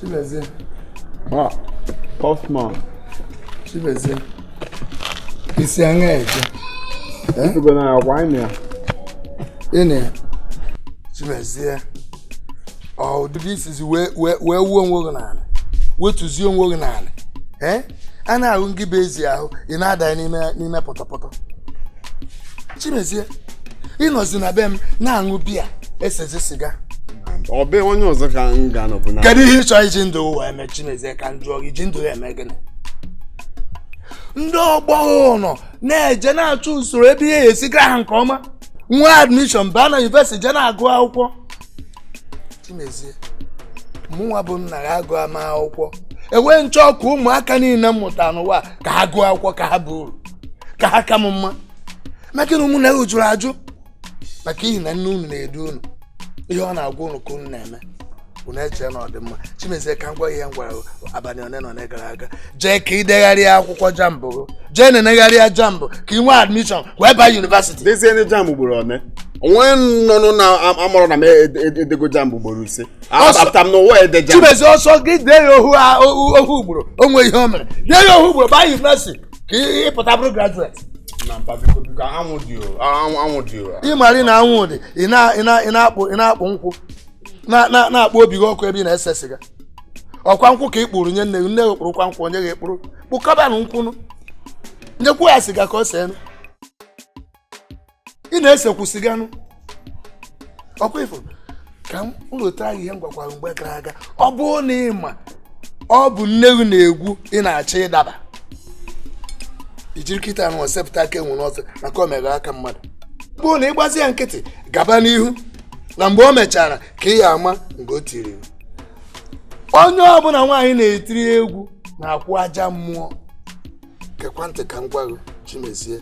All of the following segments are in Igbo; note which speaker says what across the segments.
Speaker 1: Chimezie.
Speaker 2: Ah, Postman.
Speaker 1: Chimezie. I si aṅaa eje. Efugo
Speaker 2: na ya kwa ịnị ya. Ịnị
Speaker 1: ya. Chimezie. Ọ ụdịrị i sizi wee wuo onwe gị n'ala. Wetuzie onwe gị n'ala. Ee? A na-ahụ ngị bụ ezi ahụ, ị na-ada n'ime pọtọpọtọ. Chimezie. ị nọzi na be m na-aṅụ biya esezi siga ọ be
Speaker 2: onye ọzọ ka m ga-anọbụ na kedu ihe ị chọ iji
Speaker 1: ndụ ụwa eme chimezie ka m jụọ gị i ji ndụ gị eme gịnị ndị ọgbọ unu na-eje na-achụ usoro ebe ihe esi gara ha nke ọma nwa admishọn baa na yunivesiti je na-agụ akwụkwọ chimezie mụnwa bụ nna gị agụha m akwụkwọ e wee m chọọ ka ụmụaka niile m mụtara n'ụwa ka ha gụọ akwụkwọ ka ha baa uru ka ha ka m mma maka na ụmụnne gị jụrụ ajụ maka ihi na nne unu na-edu unu ihe ọ na-agwa unu ka unu na-eme unu echee na ọ dị mma chimezie ka m gwa ihe m gwara abalị one na one gara aga jee ka ị degharịa akwụkwọ jambụ jee na-enegharịa jambụ ka ị nwee admishọn wee baa yunivasiti dezie ndị jambụ ugboro
Speaker 2: one o nwe onye na-amarọ na m edego jambụ ugboro ise apụta m n'ụwa ide jambụ chimezie ọ sọ gị dee
Speaker 1: ya ohu ugboro o nwee ihe o mere dee ya ohu ugboro baa yunivasiti ị pụta
Speaker 2: bụrụ graduate ị mara na anwụ dị
Speaker 1: ị na-akpụ nkwụ na-akpọ obi gị ọkụ ebe ị na-ese siga ọ kwa nkwụ ka ị kpụrụ nye nne gị nne gị kpụrụkwa nkwụ o nye gị kpụrụ kpụkọbanụ nkwụ nụ nyekwu ya siga ka o see nụ ị na-esekwu siga nụ ọ kwa ifo ka m lota ihe m gwakwara mgbe gara aga ọ bụrụ na ị ma ọbụ nne gị na-egwu ị na-achọ ịdaba i jiri kịtaa nụ sepụta aka enwe n'ofe maka o mere aka mmadụ bụrụ na ị gbazi ya nkịtị gaba n'ihu na mgbe o mechara ka ị ya-ama mgbe o tiri onye ọbụla nwaanyị na-etiri egwu na-akwụ aja mmụọ gekwa ntị ka m gwa gị chimezie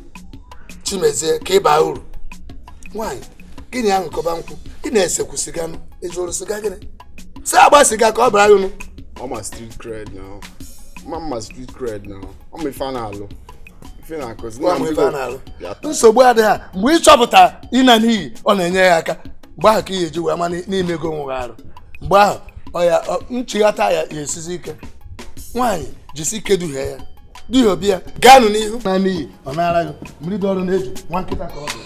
Speaker 1: chimezie ka ị baa uru nwaanyị gị na ya ṅụkọba nkwụ ị na-esekwu siga nụ ị zụrụ siga gị na ya seba siga ka ọ baara unu ọ ma
Speaker 2: street cred na mama street cred na ọ ma ife a na-alụ ife na-akụzi Gwa m ife a na-alụ.
Speaker 1: nsogbu adịghị ya mgbe ị chọpụta ịna n'iyi ọ na-enye gị aka mgbe ahụ ka ị ya-eji wee ma na i mego onwe gị arụ mgbe ahụ ọya nchighata ya ya-esizi ike nwaanyị jisi ike duhie ya duhie obi ya gaanụ n'ihu na n'iyi ọ naara gị mmiri dọrọ n'eju nwa nkịta ka ọ bụ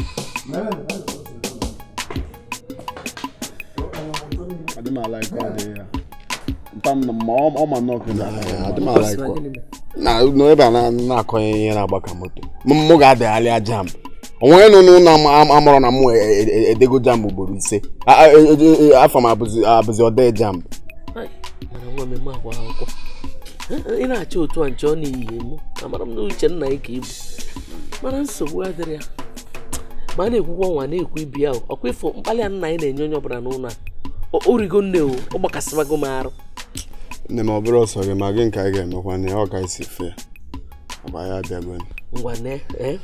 Speaker 1: adị m ala
Speaker 2: ike ọ dị ya na ebe a na-akọnye ihe na-agba ka moto mụ ga-edegharịa JAMB onwere na ụnụ amarọ na mụ edego JAMB ugboro ise afa m abụzi ode JAMB
Speaker 3: ị na-achọ otu a nche ọ na-eyighị mụ amara m na uche nna ya ka ibu mana nsogbu adịrọ ya ma a na-ekwukwa nwa na-ekwu ibi ahụ ọkwa ị fụ mkpali a nna anyị na-enye onye ọbụla n'ụnọ a o rigo nne o ọ gbakasịbago m arụ nne m ọ
Speaker 2: bụrọ sọ gị ma gịnị ka anyị ga-emekwanụ ya ọ ka isi fe ọba ya abịago ngwanụ
Speaker 3: e,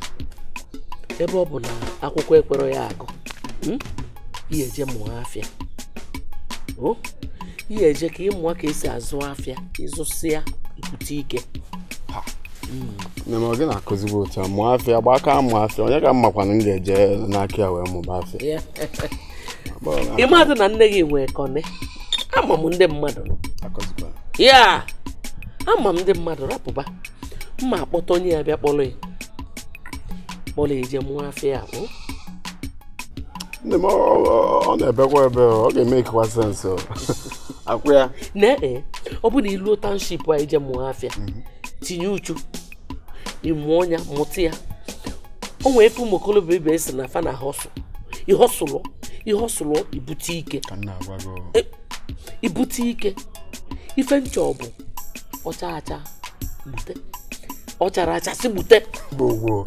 Speaker 3: ebe ọ bụ na akwụkwọ ekwerọ ị agụ hmm, ị ya-eje mụọ afịa ị ya-eje ka ị mụọ ka esi azụ afịa ị zụsịa i bute
Speaker 2: ike nne m ọ gị na-akụzigbo otu a mụọ afịa gbaa aka mụọ afịa onye ka m makwanụ m ga-eje n'aka ya wee mụba afịa Ya.
Speaker 3: ị madụ na nne gị nwee kọne ama m ndị mmadụ akụzikwa ya ama m ndị mmadụ rapụba m ya-akpọta onye ya-abịa kpọrọ ya kpọrọ ya i je mụọ afịa ahụ
Speaker 2: nne m ọ na-ebekwa ebe ọ ga-emekekwa sense akwụ ya na e, ọ bụ
Speaker 3: na i luo township a i je mụọ afịa mhm. tinye uchu ị mụọ ya mụta ya o nwee ife ụmụ okorobịa ibe si na fa na hustle ị hustle ị hustle i bute ike e, i bute ike ife m chọ bụ ọ chaa acha gbute ọ charọ acha si gbute
Speaker 2: gbogbo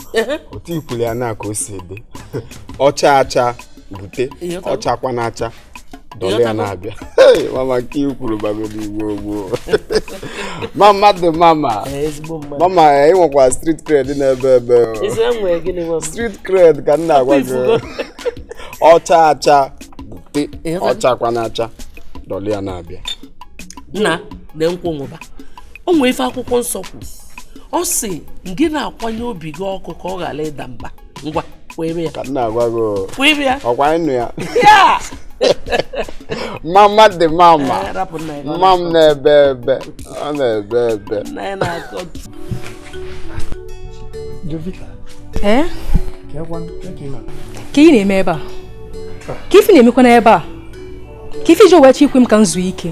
Speaker 2: otu i kwulu ya na ka o si ede ọ chaa acha gbute ọ chakwa na acha dọla ya na-abịa mama nke i kwuru bagoro igbo gboo mama dị mama mama ị nwekwa street cred na-ebe ebe street cred ka m na-agwa gị ọ chaa acha gbute ọ chakwa na acha dọla ya na-abịa
Speaker 3: nna na nkwụ nwụba o nwee ife akwụkwọ nsọ kwu ọ sị gị na-akwanye obi gị ọkụ ka ọ ghara ịda mba ngwa kwere ya ka m na-agwa gị
Speaker 2: kwere ya ọkwa ị
Speaker 3: nụ ya mama
Speaker 2: dị mama mama m na-ebe ebe ọ na-ebe
Speaker 1: ebe
Speaker 4: Jovita. Eh? Ka ị na-eme ebe a? Ke ife ị na-emekwa n'ebe a? ke ife i ji wee achọghị ikwe m ka m zuo ike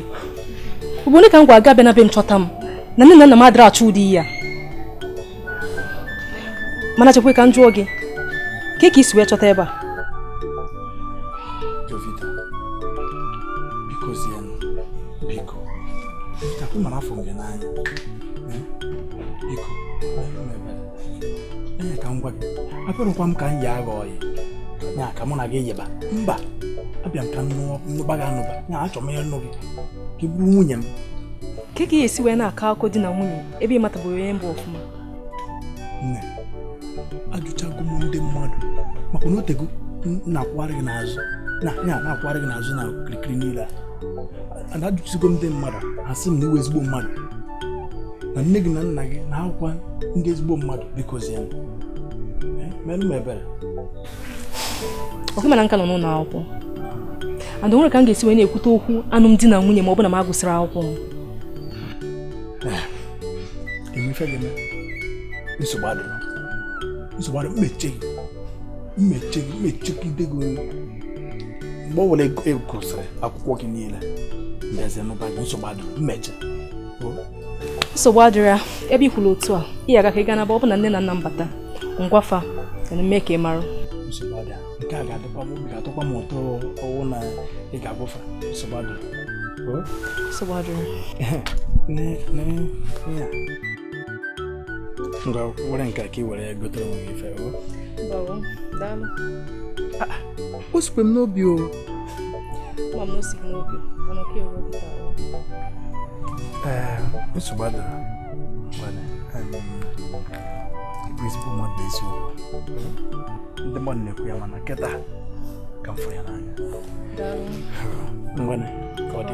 Speaker 4: ugbo one ka m gwa gị abịana be m chọta m na nne na nna m adịrọ achọ ụdị ihe a mana chekwe ka m jụọ gị ke ka i si wee chọta ebe
Speaker 1: a Jovita, bikozienụ, biko. Jovita, ị ma na afụ m gị n'anya. Eh, Biko, ọ bụrụ na ebe ee ka m gwa gị abịarọkwa m ka m yia gị ọyị ya ka mụ na gị yiba mba abịa m ka m nụba gị anụba ya achọ m ịnụ gị ka ị bụrụ nwunye m kee ka ị ya-esi
Speaker 4: wee na-akọ akụkọ di na nwunye ebe ị matabụrọ onye m bụ
Speaker 1: ọfụma nne ajụchago m ndị mmadụ maka na otego na-akwụgharị gị n'azụ na-akwụgharị gị n'azụ na kirikiri niile a ana ajụsigo ndị mmadụ a sị m na ị wụ ezigbo mmadụ na nne gị na nna gị na ha wụkwa ndị ezigbo mmadụ biko zie mere m ebere
Speaker 4: okay mana m ka nọ n'ụlọ akwụkwọ and o nwerọ ka m ga-esi wee na-ekwute okwu alụmdi na nwunye ma ọ bụ na m agụsịrị akwụkwọ m eh, m ma-eche
Speaker 1: gị nsogbu adịrọ nsogbu adịrọ m ma-eche gị m ma-eche gị m ma-echegide gị mgbe ọwụla ị gụsịrị akwụkwọ gị niile m bịazie nụba gị nsogbu adịrọ m
Speaker 4: ma-eche nsogbu adịrọ ya ebe i kwuru otu a ị ga-aga ka ị ga-anaba ọ bụ na nne na nna m bata m gwa fa mee ka ị mara nsogbu
Speaker 1: adịrọ nke a ga-adịkwa m obi ga-atọkwa m ụtọ ọ wụ na ị ga-agwa fa nsogbu adịrọ nsogbu
Speaker 4: adịrọ
Speaker 1: ngwa were nke a ka ị were ya gotere onwe gị ife o sikwa m n'obi o nsogbu adịrọ ị bụ ezigbo mmadụ n'eziokwu ndị mmadụ na-ekwu ya mana kịta ka m fụrụ ya n'anya ngwanụ ka ọ dị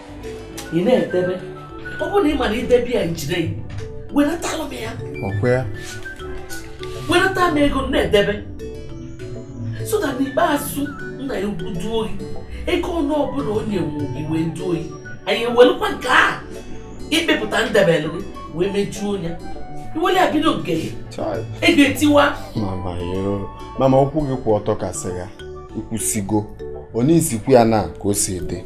Speaker 3: ị na-edebe ọ bụrụ na ị marọ idebe ya njide wenatalụ m ya ọkwa ya wenata m ego na-edebe so that n'ikpeazụ nna gị ukwu duo gị ego ọnụ ọbụla o nyere gị wee duo gị anyị ewelụkwa nke a ị kpepụta m debelụ gị wee mejuo ya i welụ ya bido nke gị ego etiwa
Speaker 2: mama okwu gị kwụ ọtọ ka sịga i kwusigo onye isikwu ya na ka o si ede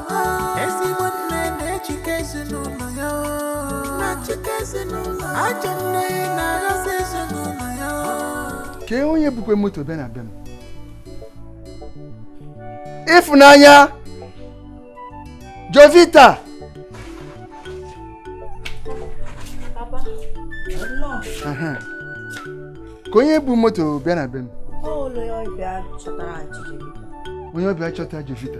Speaker 5: ezigbo nne na-achịkọ ezinụlọ ya na-achịkọ ezinụlọ ajọ nne na-aghasị ezinụlọ ya kee onye bukwe moto bịa na be m ịfụnanya
Speaker 4: jovita
Speaker 5: Aha. kee onye bu moto bịa na be m
Speaker 6: onye ọbịa chọta
Speaker 5: jovita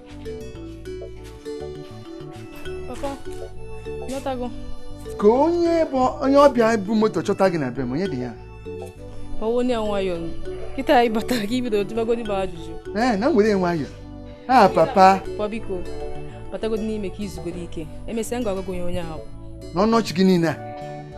Speaker 4: Papa, ị nọtago?
Speaker 5: kee onye bụ onye ọbịa bu moto chọta gị na be m onye dị ya
Speaker 4: Werenụ nwayọ kịta ị batara ka ị bido jụbagodi ajụjụ. ee na m were
Speaker 5: nwayọ a papa Papa
Speaker 4: biko, batagodi n'ime ka i zugodi ike. Emesịa m ga-agwa gị onye onye ahụ bụ. n'ọnụ ọchị gị niile
Speaker 5: a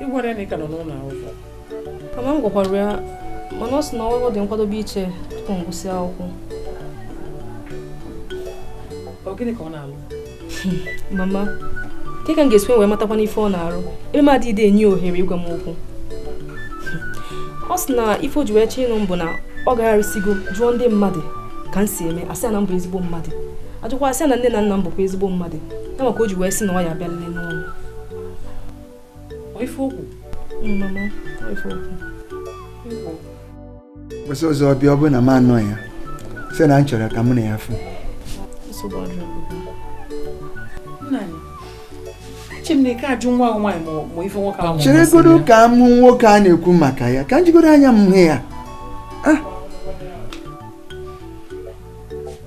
Speaker 3: ị gwara ya na ị ka nọ n'ụlọ akwụkwọ mama
Speaker 4: m gwakwara ya mana ọ sị na ọ dị nkwadobe iche tupu m gụsị akwụkwọ
Speaker 3: ọ gịnị ka ọ na-alụ
Speaker 4: mama kee ka m ga-esi wee matakwanụ ife ọ na-arụ ebe m adịghị enye ohere ịgwa m okwu ọ sị na ife o ji wee chee ịnụ m bụ na ọ gagharịsigo jụọ ndị mmadụ ka m si eme asị ya na m bụ ezigbo mmadụ ajụkwa sị na nne na nna m bụkwa ezigbo mmadụ ya maka o ji wee sị na ọ ya abịa nne n'ụlọ ife o kwu mama
Speaker 5: ife o kwu ụbọsị ọzọ ọ bịa ọ bụrụ na m anọ ya sị na m chọrọ ka mụ na ya fụ nsogbu
Speaker 3: adịrọ Chineke ajụ nwa ahụ nwaanyị ma ife nwoke ahụ cheregodo ka m hụ
Speaker 5: nwoke a na-ekwu maka ya ka m jigodo anya m hụ ya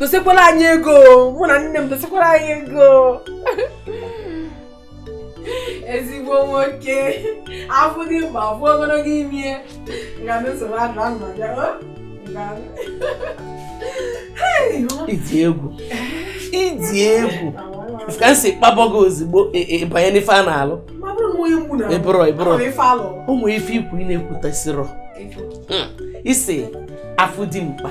Speaker 6: dosekwala anyị ego mụ na nne m dosekwala anyị ego ezigbo nwoke afụ dimkpa afụ ogologo imi ya mesoro
Speaker 3: adụ ahụ ma bịa ịdị egwu ịdị egwu ka m si kpabọgo ozugbo ịbanye e, e, n'ife a na-alụ ịbụrụ ịbụrụ o nwee ife i kwu ị na-ekwutasịrọ hmm. ị sị afụ dimkpa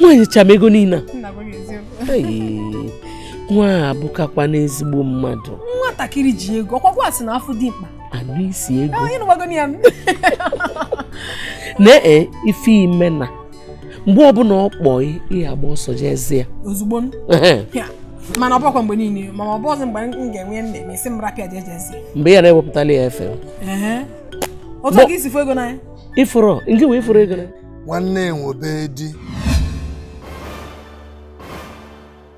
Speaker 3: nwa a nyecha m ego niile nwa a bụkakwanụ ezigbo mmadụ nwatakịrị ji
Speaker 4: ego ọkwakwa asị na afụ dimkpa anụ isi ego
Speaker 3: na ee ife ime na mgbe ọbụla ọ kpọọ gị ị ya-agba ọsọ jezie ya
Speaker 4: ozugbo mana ọ bụkwa mgbe niile ma ọ bụzi mgbe m ga-enwe nne m ị sị m rapụ ya jejezie mgbe ya na-ewepụtala
Speaker 3: ya efe
Speaker 4: otu ka i si fụ ego n'anya ifuru nke
Speaker 3: wee ị fụrụ ego n'anya nwanne nwebe
Speaker 1: di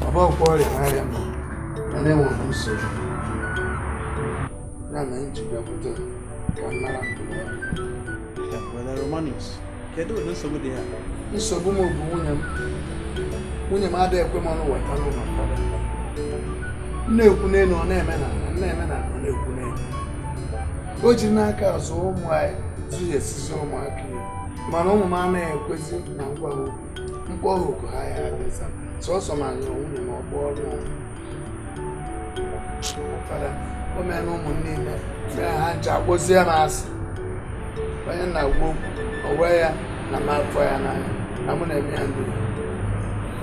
Speaker 1: Baba ọkwa ọrịa na-arịa m mana enwere m nsogbu ya na m ji bịakwute ka m nara ndụmọdụ Romanus
Speaker 5: kedu ụdị nsogbu dị ya nsogbu m
Speaker 1: bụ nwunye m nwunye m adịghị ekwe m ọnụ weta n'ụlọ mmadụ na-ekwu n'elu ọ na-eme n'ana na-eme n'ana ọ na-ekwu n'elu o ji n'aka azụ ụmụ anyị zụghị e si ezi ụmụaka mana ụmụ m anaghị ekwezi na m gwa okwu m kpọọ ha oku ha adị aza sọsọ ma ọ bụrụ nwunye m kpọrọ fada o meena ụmụ m niile mee ha ncha kpọzie m asị onye na-agwa okwu o wee ya na m afụ ya n'anya na mụ na-eme ya ndị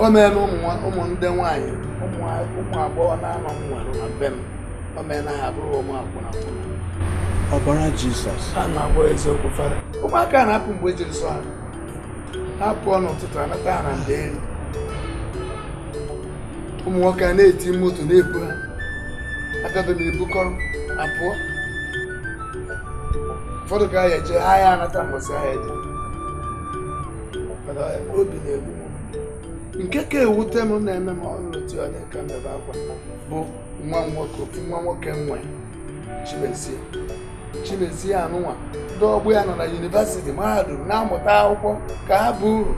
Speaker 1: o meena ụmụ ndị nwaanyị ụmụ agbọghọ na-anọ m nwere na be m
Speaker 5: ọbara jizọs a na-agwa
Speaker 1: eziokwu fara ụmụaka na-apụ mgbe e jiri sọ ha ha pụọ n'ụtụtụ anata ha na ndeeri ụmụ nwoke a na-eti moto na-ebu ha agado na-ebukọrọ apụọ ụfọdụ ka ha jee ha ya anata mbọsị ha jee obi na-egbu m nke ka ewute m na-eme m ọrụ otu ọ dị ka m bebe akwa bụ nwa nwoke ofu nwa nwoke m nwe chimezie chimezie anụnwa ndị ọgbọ ya nọ na yunivesiti mahadum na-amụta akwụkwọ ka ha baa uru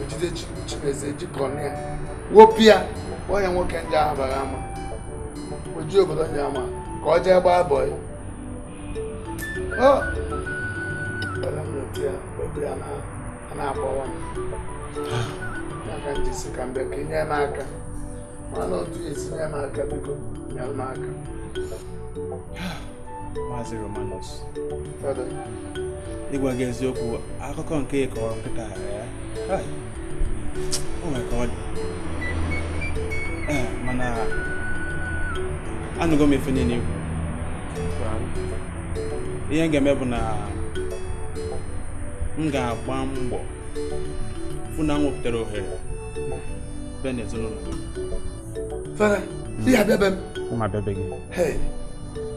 Speaker 1: ejide chimezie jikọna ya wopịa kpọọ ya nwoke nje ahụ bara ama oji obodo nje ama ka ọ jee gbaa bọị na-akpọwa m ya ka m ji sị ka m bịa ka i nye m aka mara otu esi nye m aka
Speaker 5: biko nye m aka Maazị Romanus ịgwa gị eziokwu akụkọ nke ị kọrọ kịta a o nwere ka ọ dị mana anụgo m ife niile i kwu ihe m ga-eme bụ na m ga-agba mbọ fụ na m wepụtara ohere bịa n'ezinụlọ gị
Speaker 1: fara ị ya-abịa be m mụ abịa be
Speaker 5: gị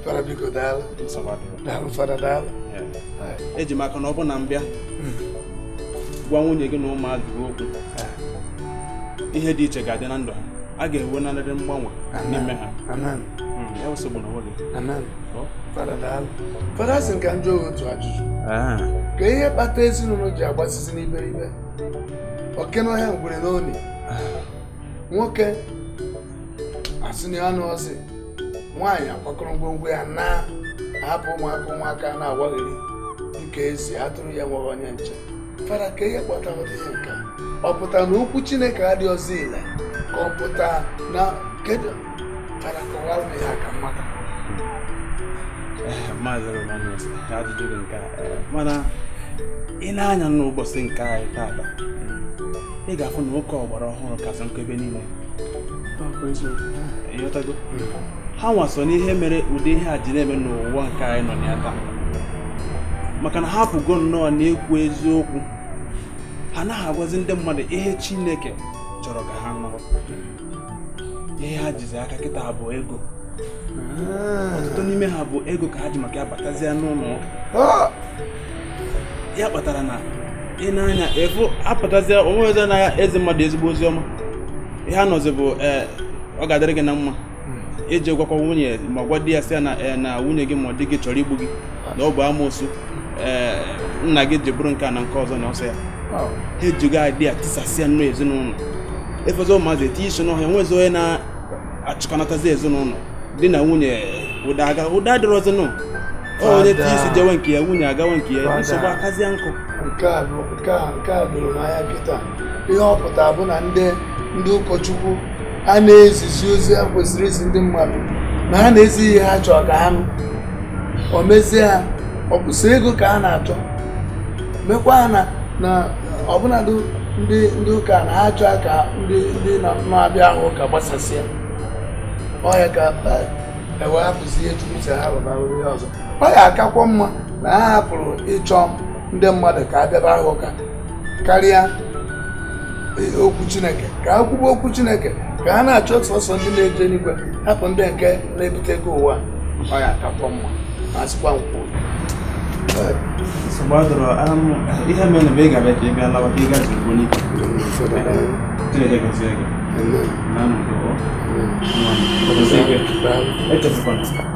Speaker 1: fara biko daalụ daalụ fara daalụ eji
Speaker 5: m aka na ọ bụ na m bịa hmm. gwa nwunye gị na ụmụazụ gị okwu ihe dị iche ga-adị na ndụ ha a ga-enwe nanarị mgbanwe n'ime
Speaker 1: ha fada sị ka m jụọ otu ajụjụ ah. ka ihe kpata ezinụlọ ji agbasisi n'iberibe oke n'ọhịa ngwere n'ọnụ nwoke asị na ya anọzị nwaanyị akwakọrọ ngwongwo ya naa hapụ ụmụaka ụmụaka na-awagharị dịka a sị atụrụ na-enweghị onye nche fara ka ihe kpatara ihe nke a ọ pụtara na okwu chineke adịghịzi ile ka ọ pụta na kedu
Speaker 5: mana ị nee anya n'ụbọchị nke anyị taata ị ga-afụ na ụka ọgbara ọhụrụ kasị nkụ ebe niile ha nwa so n'ihe mere ụdị ihe a ji na-eme n'ụwa nke anyị nọ na ya taa maka na ha pụgo nnọọ n'ikwu eziokwu ha anaghị agwazi ndị mmadụ ihe Chineke chọrọ ka ha nụrụ ihe ha jizi aka kịta bụ ego ah. ọtụtụ n'ime ha bụ ego ka ha ji maka ya batazie n'ụlọ ah. ya kpatara na ị na-anya efu apụtazie o nwezi na-ezi mmadụ ezigbo ozi ọma ihe a nọzi bụ eh, ọ ga-adịrị gị na mma iji hmm. gwakwa nwunye ma gwa di ya sị ya na eh, nwunye gị ma ọ di gị chọrọ igbu gị na ọ bụ amoosu eh, nna gị ji bụrụ nke a na nke ọzọ na ọsọ ya ha ejigo ụdị a tisasịa nnọọ ezinụlọ ị fụzi ụmụazị etinye isi n'ọhịa nwezi onye na-achịkọnatazi ezinụlọ di na nwunye udo aga udo adịrọzinụ onye tinye isi jewe nke ya nwunye agawa nke ya nsogbu akazịa nkụ nke a bụ nke
Speaker 1: a nke a doro n'anya kịta ihe ọ pụtara bụ na ndị ndị ụkọchukwu a na-ezizi ozi ha kwesịrị izi ndị mmadụ na ha na-ezi ihe ha chọrọ ka ha nụ o mezie ha ọ bụ sọ ego ka ha na-achọ mekwa ha na na ọbụnadụ ndị ndị ụka na ha achọ ka ndị ndị na- na-abịa ha ụka gbasasịa ọ ya ka eh, e wee hapụzi ihe chukwu sị ha rụba rụba ihe ọzọ ọ ya-akakwa mma na ha hapụrụ ịchọ ndị mmadụ ka ha bịaba ha ụka karịa e, okwu chineke ka ha kwube okwu chineke ka ha na-achọ sọsọ ndị na-eje n'igwe hapụ ndị nke na-ebute ego ụwa ọ ya-akakwa mma ma a sịkwa m kwuo nsogbu
Speaker 5: adịrọ ihe mere bụ ị ga-abịa ka ị bịa lawa ka ị gaji ugbo n'ike chineke gozie gị ị nụgo nwa m echefukwana